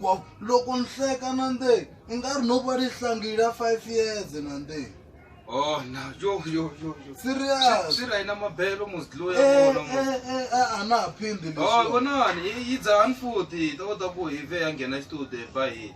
wa loko ni hleka na nde i nga ri no va ni hlangile ya five years na nde Oh, na yo yo yo yo. Serious. Swi ra ina mabelo must lo ya eh, vona. Eh eh eh a na ha phindi leswi. Oh, vonani yi dzani futhi ta kota ku hi ve ya nghena studio ba hi.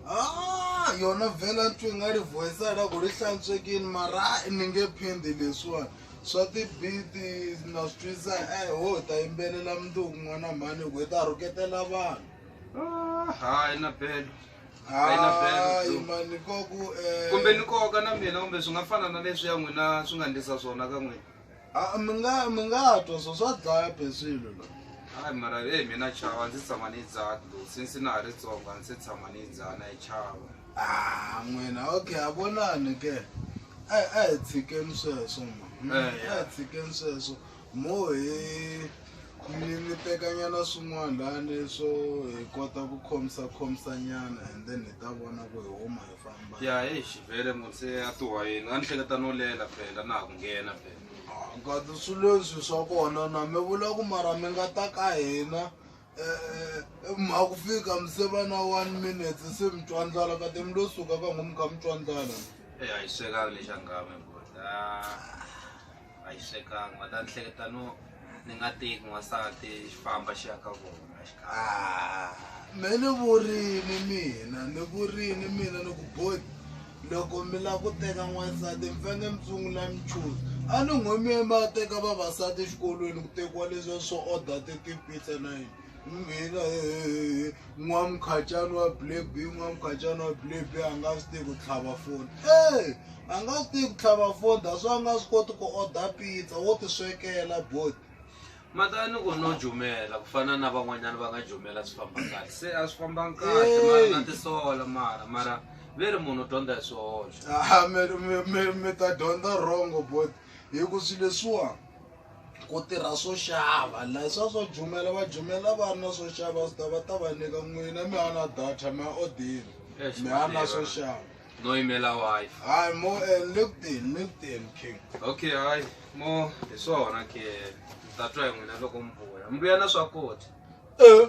Ah, yona vela ntwi nga ri voice ra ku ri hlantswekini mara ni nge phindi leswiwani. swa tibiti na swi twisa eh ho ta yimbelela mundzuku n'wana mhani hi ku hi ta rhuketela vanhu Ah, hayi na belo Hayi na belo, hayi Zulu. mani nkoku eh, kumbe ni koka na mina kumbe swi nga fana na leswi ya n'wina swi nga ndlisa swona ka n'wina ah, mi nga mi nga twa swo swa dlaya be swilo la hayi mara e mina chava ndzi tshama ni yi dzaha dlo since na ha ri tsongo a ndzi se tshama ni yi dzaha na yi chava Ah, n'wina okay a vonani ke a a hi tshikeni sweswo ma Mm, Eh, yeah. a hi tshikeni sweswo Mo hi ni ni tekanyana swin'wana lani swo hi kota ku khomisa khomisa nyana and then hi ta vona ku hi huma hi famba ya hi xivele mo se a tuwa yini a ni hleketa no lela phela na ha ku nghena phela kati swi leswi swa kona na mi vula ku mara mi nga ta ka hina um mha ku fika mi se va na one minute se mi twa ndlala kati mi lo suka ka ngo mi kha mi twa ndlala e a yi swekanga lexi a ngame bota a yi swekanga va ta ni hleketa no ni nga teki n'wansati xi famba xi ya ka vona xi kha Ah, me ni vurini mina ni vurini mina ni ku boti loko mi la ku teka n'wansati mi fanele mi sungula mi chuza a ni ngo mi ye mi ya teka vavasati exikolweni ku tekiwa leswiya swo order ti-pizza na yini mina eh, n'wamukhatyani wa black b n'wamukhatyani wa black b a nga swi tivi ku tlhava foni e a nga swi tivi ku tlhava foni that's why a nga swi koti ku order pizza wo ti swekela bot matani ku no jumela ku fana na van'wanyana va nga jumela swi famba kahle se a swi fambanga kahle Hey. mara na tisola mara mara ve ri munhu u dyondza hi swihoxo Ah, mi- mi- mi- mi ta dyondza wrong bot hi ku swi leswiwa ku tirha swo xava la swa swo jumela va jumela va ri na swo xava swi ta va ta va nyika n'wina mi ha na data mi ya odini Eish, mi ha na Madeira. swo xava no yimela wife hayi mo eh, linkedin linkedin king okay hayi mo hi swona ke ni ta twa hi n'wina loko mi vuya mi vuya na swakudya Eh,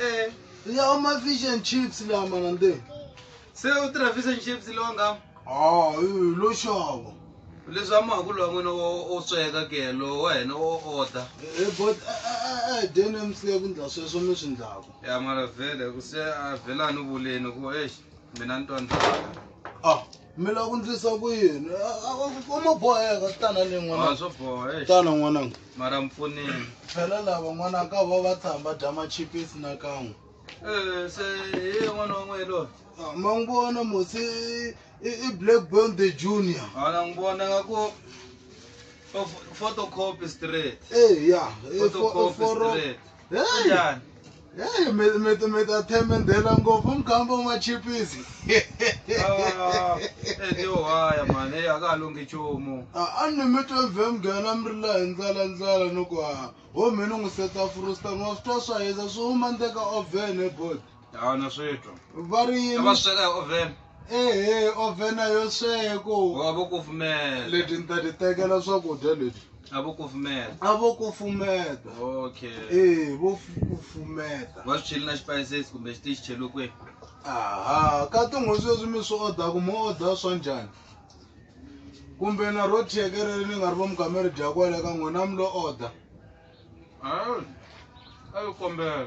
Eh, ni ya ma fish and chips la mana nde se u tirha fish and chips lowa nga ah eh, lo xava leswi a mahaku lowa n'wina wo- wo sweka ke lowu wa hina wo order Eh, but dene msile ku ndla sweswo mi swi ndlaku ya mara vhele ku se a vhela ni vuleni ku exi mina ni twa ndlala ah mi lava ku ndlisa ku yini uma boheka tana ni n'wana swo boha eh. tana n'wananga mara mpfuneni phela lava n'wanaka ka va va tshamba dya machipisi na kan'we eh, se hi n'wana wa n'wehe loyi ah, ma n'wi vona mosi i black bond the junior ana n'wi vona nga ku photocopy straight eya eh, photocopy straight Hey! Kunjani? Hey, mi mi mi ta themendela ngopfu mugamba wa machipisi. Ah, eh, ti ohaya mhani eyi a ka ha lunghi nchumu Ah, a ni mi twe vhe mugana mi ri la hi ndlala ndlala ni ku haha. Ho mi ni n'wi seta frusta n'wa swi twa swa hisa swi huma ndle ka oven he bot. hawu na switwa va ri yini va sweka hi oven ehe oven a yo sweko wa vo kufumela leti ni ta ti tekela swakudya leti a vo kufumela a vo kufumeta okay ee vo kufumeta va swi cheli na spices kumbe xi ti xi cheliwe kwihi aha ka tin'hweti sweswi mi swi odaku mo oda swa njhani kumbe na ro thiyekerele ni nga ri vo mugameri dya kwale ka n'wina mi lo oda a yi kombela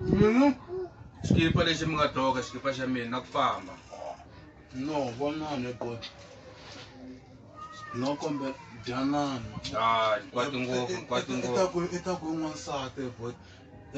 Mm-hmm. xikipa lexi mi nga doka xikipa xa mina na ku famba no vonane bot no kombe dyanana hayi kwati ngopfu kwati ngopfu i ta ku n'wansati bot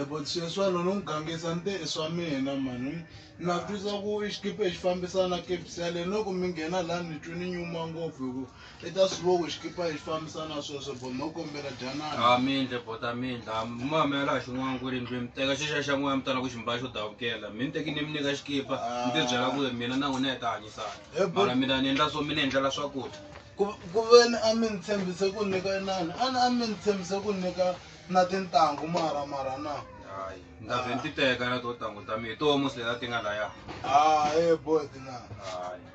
ebot sweswano ni n'wi gangisa ni te i swa mina mani na twisa ku i xikipa xi fambisana kepsele loko mi nghena laha ni twe ni nyuma ngopfu hi ku i ta swi voku xikipa hi fambisana sweswo bo no kombela dyanana a mindle bota mindla mamela a xin'wana ku ri ndzi mi teka xixa xa n'wana mi tala ku xi mbala xo davukela mi ni teki ni mi nyika xikipa mi ti byela ku ri mina na n'wina hi ta hanyisana He, bo- mara mina ni endla swo mi ni endlela swakudya ku ku veni a mi ni tshembise ku ni nyika inani a ni a mi ni tshembise ku ni nyika na tintangu mara mara na hayi ni ta vhe ni ti teka na to tangu ta mina hi toho musi leta ti nga laya hayi boy tinani hayi